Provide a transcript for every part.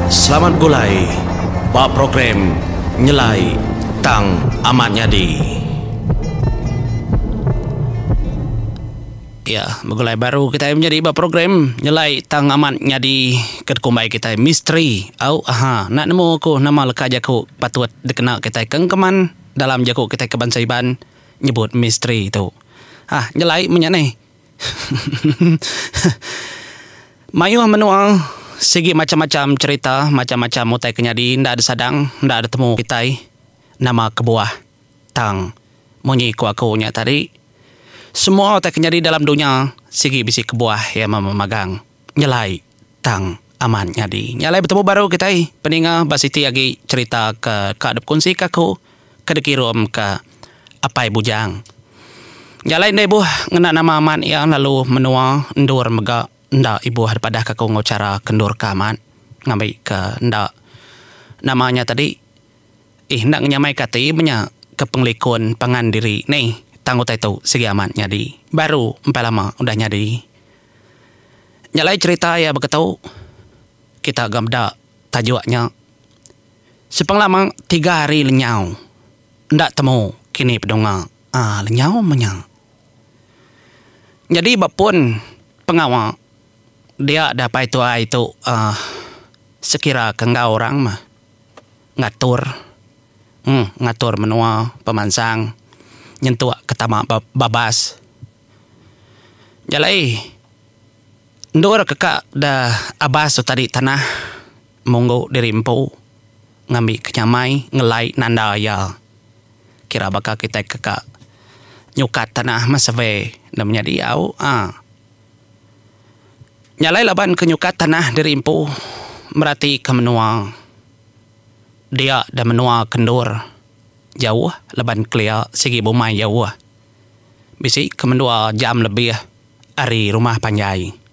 Selamat begulai ba program Nyelai tang amat nyadi. Iya, begulai baru kitai menyadi ba program Nyelai tang amat nyadi ke dikumbai kitai Misteri au aha enda nemu aku nama leka jaku patut dikena kitai ke engkeman dalam jaku kitai ke bansa Iban nyebut misteri tu. Hah, nyelai menya neh. Mayuh menua sigi macham-macham cherita, macham-macham utai ke nyadi enda disadang, enda ditemu kitai nama kebuah. Tang munyi ku aku nya tadi, semua utai ke nyadi dalam dunya sigi bisi kebuah iya memagang. nyelai tang amat nyadi. Nya alai betemu baru kitai peninga ba siti agi cherita ke ka dipekunsi ka aku ke dikirum ka Apai Bujang. Nya alai enda ibuh ngena nama amat iya lalu menua endur mega enda ibuh dipadah ka aku enggau chara ke endur ka amat ngambi ka enda nama nya tadi ih enda ngenyamai ka ati menya ke pengelikun pangan diri nih tang utai tu sigi amat nyadi baru empai lama udah nyadi. Nya alai cherita iya baka tu, kita ga meda tajuk nya. Sepang lama tiga hari lenyau enda temu kini pedunga aa lenyau meh nya. Nyadi ba pun pengawa dia da pai tuai tu aa sekira ke enggau orang meh ngatur emm ngatur menua pemansang nyentuk ke tama babas. Jalai endur ke ka da abas tu tadi tanah munggu diri empu ngambi ke nyamai ngelai nanda iya kira baka kitai ke ka nyukat tanah meh survey enda menyadi au a jalai laban ke nyukat tanah diri empu merati ke menua dia da menua ke endur jauh laban kelia sigi bumai jauh. Bisi ke mendua jam lebih ari rumah panjai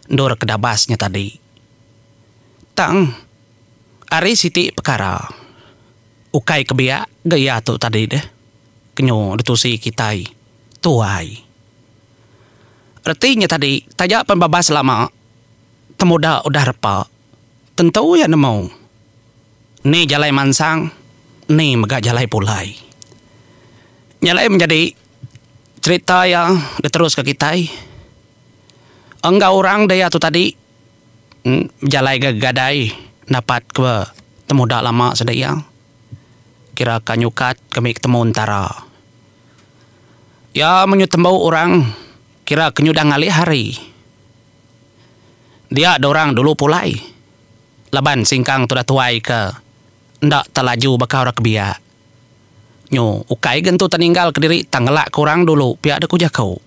endur ke dabas nya tadi. Tang, ari siti pekara, ukai ke biak ga iya tu tadi deh ke nyu ditusi kitai tuai. Reti nya tadi taja pen babas lama temuda udah repa. Tentu iya nemu ni jalai mansang, ni mega jalai pulai. Nya alai menjadi cherita iya diteruska kitai enggau orang diau tu tadi bejalai ga gadai dapatka temuda lama sida iya kira ka nyukat kami ketemu entara. Iya menyutembu orang kira ke nyudah ngalih hari. Dia dorang dulu pulai laban singkang tudah tuai ke enda telaju baka orang ke biak. Nyu ukai ga entu teninggal kediri tang ngelak ke orang dulu pia deh ku jaku.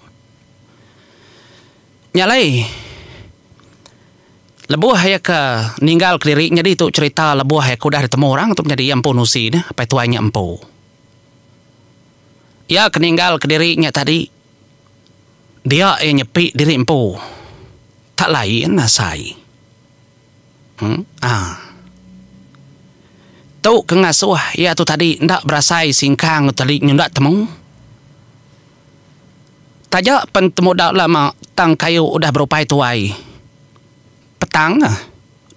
Nya alai lebuh iya ke ninggal kediri nyadi tu cherita lebuh iya ke udah ditemu orang tu menyadi iya empu nusi neh apai tuai nya empu. Iya ke ninggal kediri nya tadi. Dia iya nyepi diri empu. Tak lain asai. Haa. Tu ke ngasuh iya tu tadi enda berasai singkang tu tadi nyunda temu. Taja pen temudau lama tang kayu udah berupai tuai. Petang ah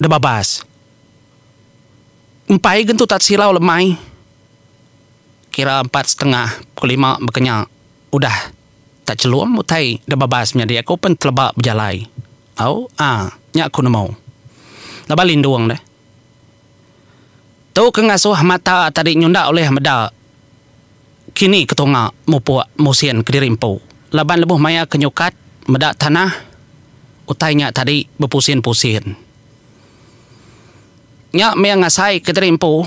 udah babas. Empai gen tu tak silau lemai. Kira empat setengah pukul lima baka nya udah. Tak chelum utai da babas menyadi aku pen teleba bejalai. Au ah nya aku nemu. Laban lindung deh. Tu ke ngasuh mata tadi nyunda ulih meda kini ke tunga mupuk musin kediri empu. Laban lebuh maya ke nyukat meda tanah utai nya tadi bepusin-pusin. Nya meh ngasai kediri empu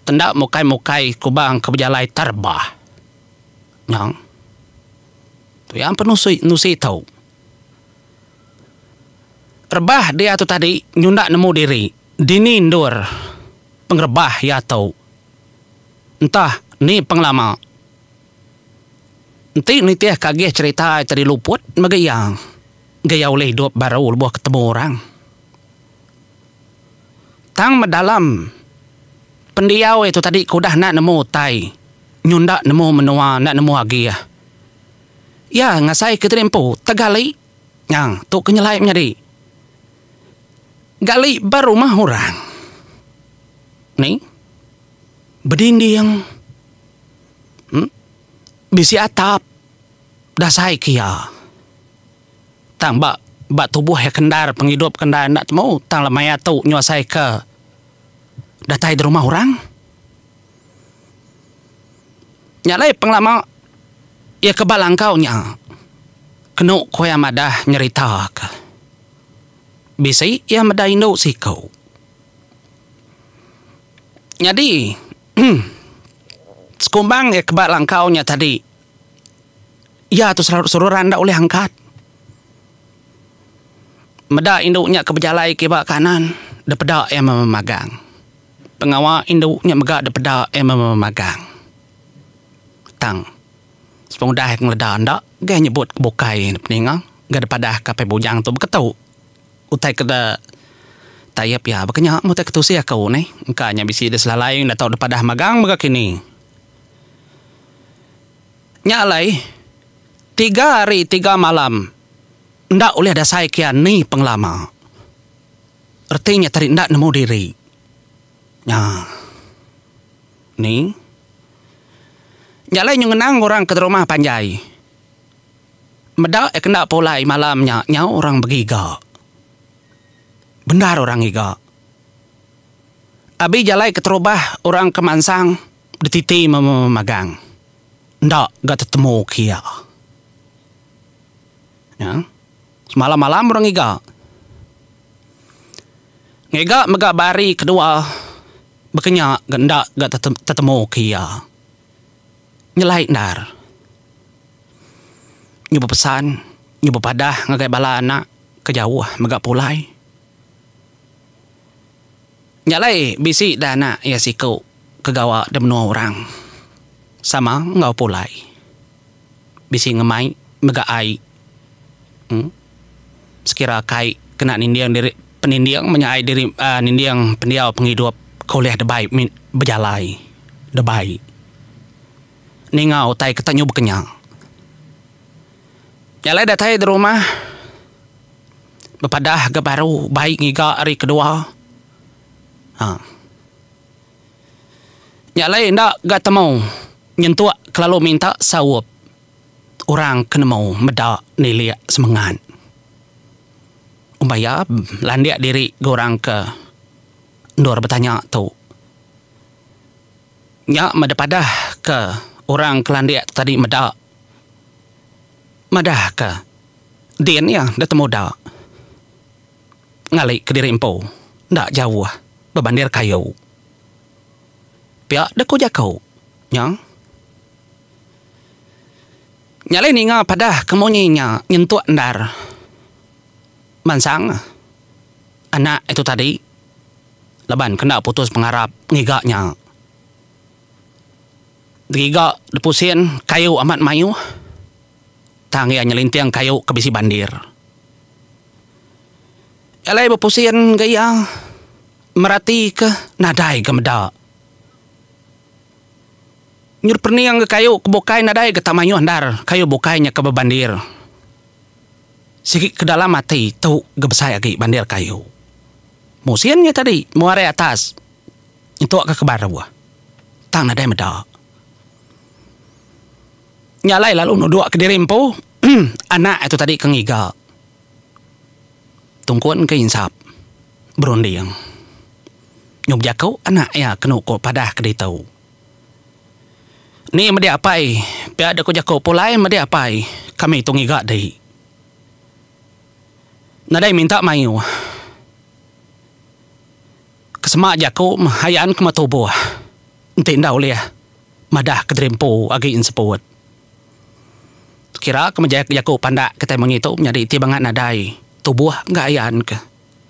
tenda mukai-mukai kubang ke bejalai terbah. Nyang. Tu iya empa nusi nusi tu. Rebah dia tu tadi nyunda nemu diri, dini endur pengerebah iya tu. Entah ni pengelama. Enti nitih ke agih cherita iya tadi luput mega iya. Ga iya ulih idup baru lebuh ketemu orang. Tang medalam pendiau itu tadi ku udah enda nemu utai nyunda nemu menua enda nemu agih. Iya ngasai ke tadi empu tegali nya tu ke nyelai menyadi gali ba rumah orang ni bedinding em bisi atap dasai ke iya. Tang ba ba tubuh iya ke endar pengidup ke enda enda temu tang lama iya tu nyuasai ke datai di rumah orang. Nya alai pengelama iya ke ba langkau nya kenu ku iya madah nyerita ke bisi iya meda indu siku. Nyadi sekumbang iya ke ba langkau nya tadi. Iya tu serarut serura enda ulih angkat. Meda indu nya ke bejalai kiba kanan depeda iya mememagang. Pengawa indu nya mega depeda iya mememagang. Tang sepengudah ngeleda enda gai nyebut ke bukai neg peninga ga dipadahka Apai Bujang tu beketu utai ke tayap iya baka nya meh utai ke tusih aku neh engka nya bisi diselalai enda tau dipadah magang mega kini. Nya alai, tiga hari tiga malam enda ulih dasai kian ni pengelama. Reti nya tadi enda nemu diri. Nya. Ni. Nya alai nyu ngenang orang ke rumah panjai. Meda iya ke enda pulai malam nya nyau orang begiga. Bendar orang ngiga. Abi jalai keterubah orang ke mansang. Betiti magang enda ga tetemu ke iya. Nya, semalam-malam orang ngiga. Ngiga mega ba hari kedua bekenya ga enda ga tetemu ke iya. Nyelai endar. Nyu bepesan, nyu bepadah ngagai bala anak ke jauh mega pulai. Nya alai bisi dah anak iya siku ke gawa di menua orang sama enggau pulai bisi ngemai mega ai sekira kai kena ninding diri peninding menya ai diri ninding pendiau pengidup ke ulih dibai bejalai dibai ninga utai ke tak nyuba ke nya. Nya alai datai di rumah. bepadah ga baru bai ngiga ari kedua. Ha. Nya alai enda ga temu nyentuk kelalu minta saup orang ke nemu meda nilik semengat. Uban iya landik diri enggau orang ke endur betanya tu. Nya meda padah ke orang ke landik tu tadi meda. madahka din iya enda temu da ngali kediri empu enda jauh bebandir kayu. Pia dek ku jaku nya, nyalai ninga padah ke munyi nya nyentuk endar mansang anak itu tadi laban ke enda putus pengarap ngiga nya. Geriga lepu sin, kayu amat mayuh tang iya nyelinting kayu ke bisi bandir. Alai bepu sin ngagai iya meratika nadai ga meda. Nyudah pening ga kayu ke bukai nadai ga tak mayuh endar, kayu bukai nya ke bebandir. Sigi ke dalam ati tu ga besai agi bandir kayu. Mung sin nya tadi, mung ari atas. Nyentuk ka ke baru. Tang nadai meda. Nya alai lalu nuduk ke diri empu, anak itu tadi ke ngiga. Tungkun ke insap berunding. Nyau bejaku anak iya kenu ku padah ke ditu. Ni meda apai, pia dek ku jaku pulai meda apai kami tu ngiga di. Nadai minta mayuh. Ke semak jaku hayaan kema tubuh enti enda ulih madah ke diri empu agi enseput. Kira ke mejai ke jaku pandak kitai mengi tu menyadi ti bangat nadai tubuh enggau hayaan ke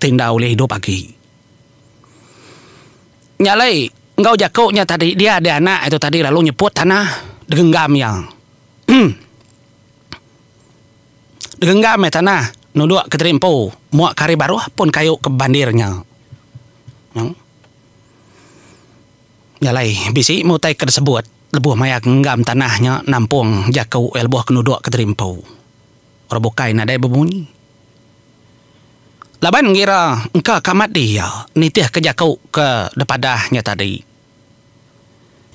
ti enda ulih idup agi. Nya alai enggau jaku nya tadi dia deh anak itu tadi lalu nyeput tanah degenggam iya. Degengga meh tanah nuduk Kediri Empu muak ke hari baruh pun kayu ke bandir nya. Nyau. Nya alai bisi meh utai ke disebut lebuh maya genggam tanah nya nampung jaku iya lebuh ke nuduk Kediri Empu. Orang bukai nadai bemunyi. Laban ngira engka ke amat diya nitihka jaku ke dipadah nya tadi.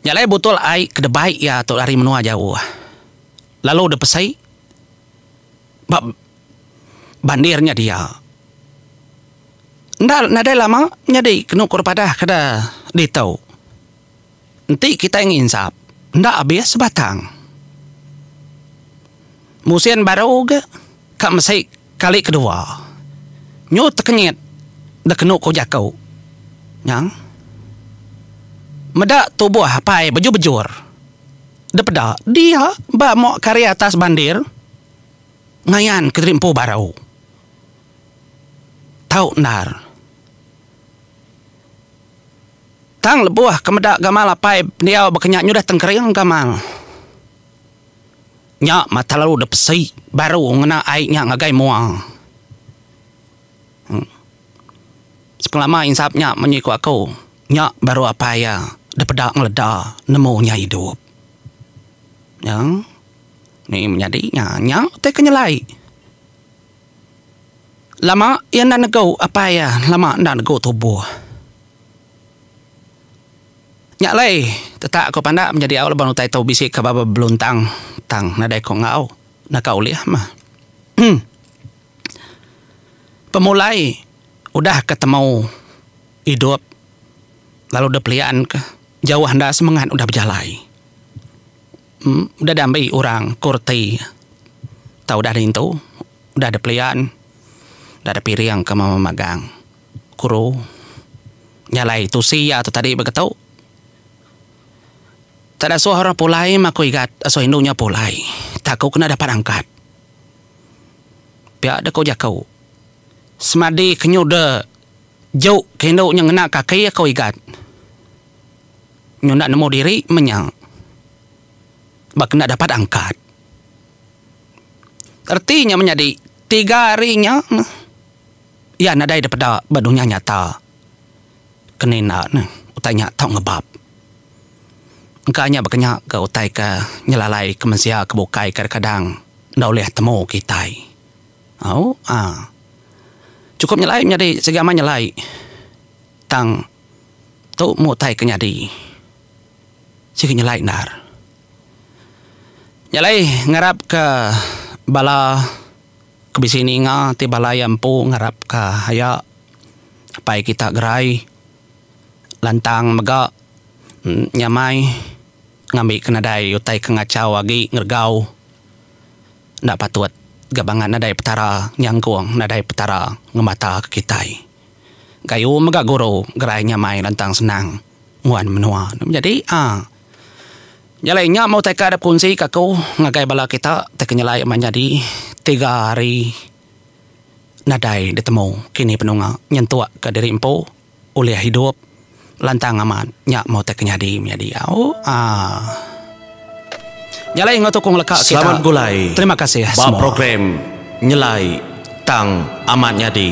Nya alai botol ai ke debai iya tu ari menua jauh lalu dipesai ba bandir nya dia. Enda nadai lama nyadi kenu ku padah ke da ditu. Enti kitai nginsap enda abis sebatang. Musin baru ga ka mesi kali kedua nyu tekenyit da kenu ku jaku nyang meda tubuh apai bejur-bejur depeda dia ba mok kari atas bandir ngayan kediri empu baru tau endar tang lebuh ke meda gamal apai pendiau baka nya nyudah tengkering gamal. nya mata lalu da pesi baru ngena ai nya ngagai mua. Sepengelama insap nya munyi ku aku nya baru apai iya da peda ngeleda nemu nya idup. Nya meh menyadi nya nya utai ke nyelai. Lama iya enda nego apai iya lama enda nego tubuh. Nya alai, tetak ko pandak menyadi au laban utai tu bisi ka baba beluntang tang nadai ko enggau naka ulih mah. Pemulai udah ka temu idup lalu deh pelian ka jauh enda semengat udah bejalai. Udah diambi orang ko reti tau udah nintu udah deh pelian udah deh piring ka mama magang. Guru. Nya alai tusi iya tu tadi begetu. Tada suah orang pulai ma aku igat asuh indu nya pulai. Tak aku kena dapat angkat. Pia deh ku jaku. Semadi ke nyuda juk ke indu nya ngena kaki aku igat. Nyu enda nemu diri meh nya. Ba kena dapat angkat. Reti nya menyadi tiga hari nya. Iya nadai dipeda ba dunya nyata. Kena enda ne utai nya tau ngebab. Engka nya baka nya ga utai ke nyelalai ke mensia ke bukai kadang-kadang enda ulih temu kitai. Au aa. Chukup nyelai menyadi sigi amai nyelai tang tu meh utai ke nyadi. Sigi nyelai endar. Nyelai ngarapka bala. Ke bisi ninga ti bala iya empu ngarapka iya. Apai kita gerai lantang mega nyamai ngambika nadai utai ke ngachau agi ngeregau enda patut ga bangat nadai petara nyangkung nadai petara ngemataka kitai. Gayu mega guru gerai nyamai lantang senang nguan menua. Nyadi a. Nyelai nya meh utai ka dep kunsi ka aku ngagai bala kita ti ke nyelai meh nyadi tiga hari nadai ditemu kini penunga nyentuk ka diri empu ulih hidup lantang amat nya meh utai ke nyadi menyadi au aaa nyelai enggau tukung leka kita selamat begulai terima kasih semua ba program nyelai tang amat nyadi.